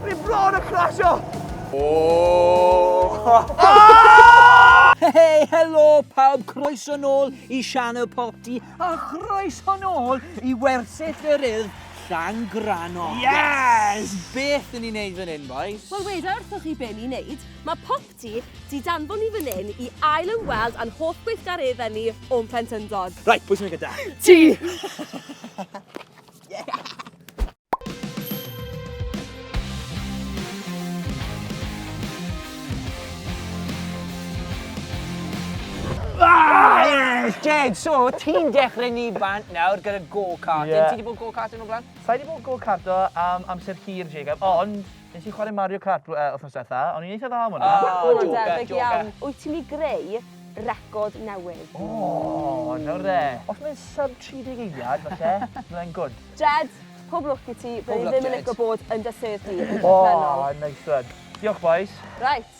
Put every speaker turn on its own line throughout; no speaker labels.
Rwy'n bron y crasio! Hei,
helo pawb, croeso nôl i Sianel Popty a chroeso nôl i wersyll yr urdd Llangranno. Yes!
Beth yn ni'n neud
fan hyn, boys? Wel, weda wrthoch chi be
ni'n neud. Mae Popty di danfon ni fan hyn i ail ymweld a'n hoff gweithgareddau ni o'n plentyndod. Right, pwy sy'n mynd gyda?
Ti!
Ah, yes, Jed, so ti'n dechrau ni bant nawr gyda go-karting. Ie. Ti wedi bod go-karting
o blaen?
Sa i wedi bod go-karto
am amser hir, Jacob, ond Nes i chwarae Mario Kart bl- yy wthnos dwetha, o'n i'n eitha dda am hwnna. O! Mae hwnna'n Joker, debyg joker. iawn.
Wyt ti'n myn' i greu record newydd? O!
Nawr de. Os mae'n sub 30 eiliad, falle, bydde fe'n good. Jed, pob
lwc i ti. Pob lwc, Jed. Byddwn i ddim yn lico bod
yn dy
sedd di yn y gorffennol. O! Nice
one.
Diolch
bois. Reit.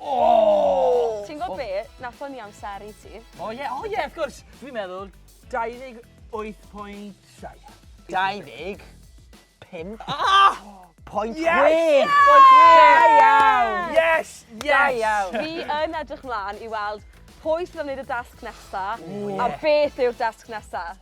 Oh!
Ti'n gwybod be? Na ffynnu amser i ti. O ie, o ie, wrth gwrs.
Dwi'n meddwl 28.7. 25. Ah! Point chwech! Point chwech!
Da
iawn! Yes! Yes! Da
iawn!
Fi yn edrych
mlaen i weld pwy sydd am wneud y dasg nesa, a beth yw'r dasg nesa.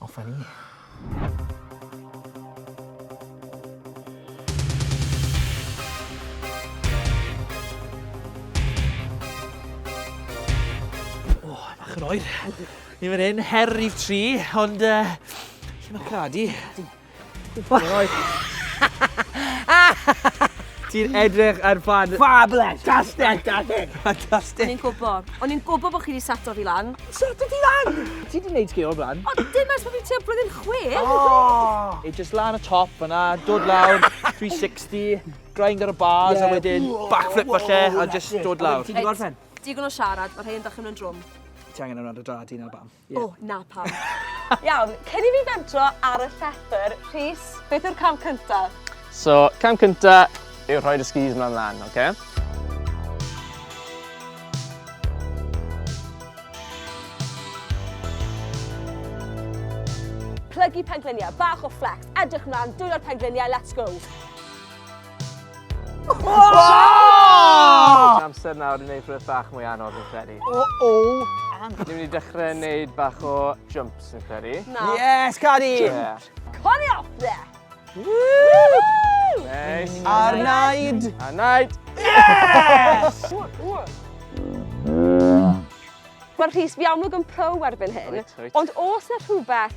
Off a ni.
O, bach yn oer. Ni fan hyn, her rif tri, ond uh, lle mae Cadi? Ti'n edrych ar fan... Fabulous! Fantastic!
Fantastic! Fantastic! O'n i'n
gwybod. O'n i'n
gwybod bod chi wedi sato fi lan. Sato ti lan?
Ti wedi gwneud sgil o'r blaen? O, dim as bod fi ti'n
blwyddyn chwe. Oh. It
just lan y top yna, dod lawr, 360, grind ar y bars yeah. a wedyn backflip falle a just dod lawr. Ti wedi gorffen? Digon
o siarad, mae
rhain yn dach yn drwm. Ti angen yna dy dra
di na bam. O, na pam.
Iawn, cyn i fi fentro ar y llethr, Rhys, beth yw'r cam cyntaf? So, cam
cyntaf yw rhoi dy skis mlaen lan, oce? Okay?
Plygu pengliniau, bach o flex, edrych mlaen, dwylo'r pengliniau, let's go!
Amser nawr i wneud rhywbeth bach mwy anodd yn credu. O, o! Ni'n mynd i dechrau wneud bach o jumps yn credu. Na. Yes, Cari!
Yeah. Cari
off there! Nice. Ar naid!
Ar naid!
Yes!
Mae'r Rhys fi amlwg yn pro erbyn hyn, ond os na
rhywbeth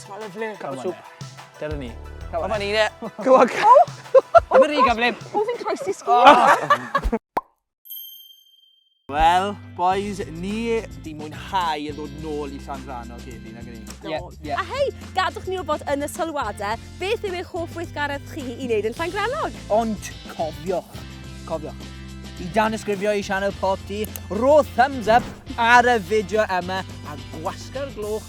Sma'n lyflu.
Come on
then. Dyna ni. Come on Nina.
Go on. Come
on Rhiga
blib. O fi'n croesi sgwrs.
Wel, boys, ni di mwynhau yn dod nôl i Llan Rhan o'r Gedi, nag ni? Yeah, yeah. A hei, gadwch
ni wybod yn y sylwadau beth yw eich hoff weithgaredd chi i wneud yn Llan Granog. Ond cofiwch,
cofiwch, i dan ysgrifio i sianel pop di, ro thumbs up ar y fideo yma a gwasgar gloch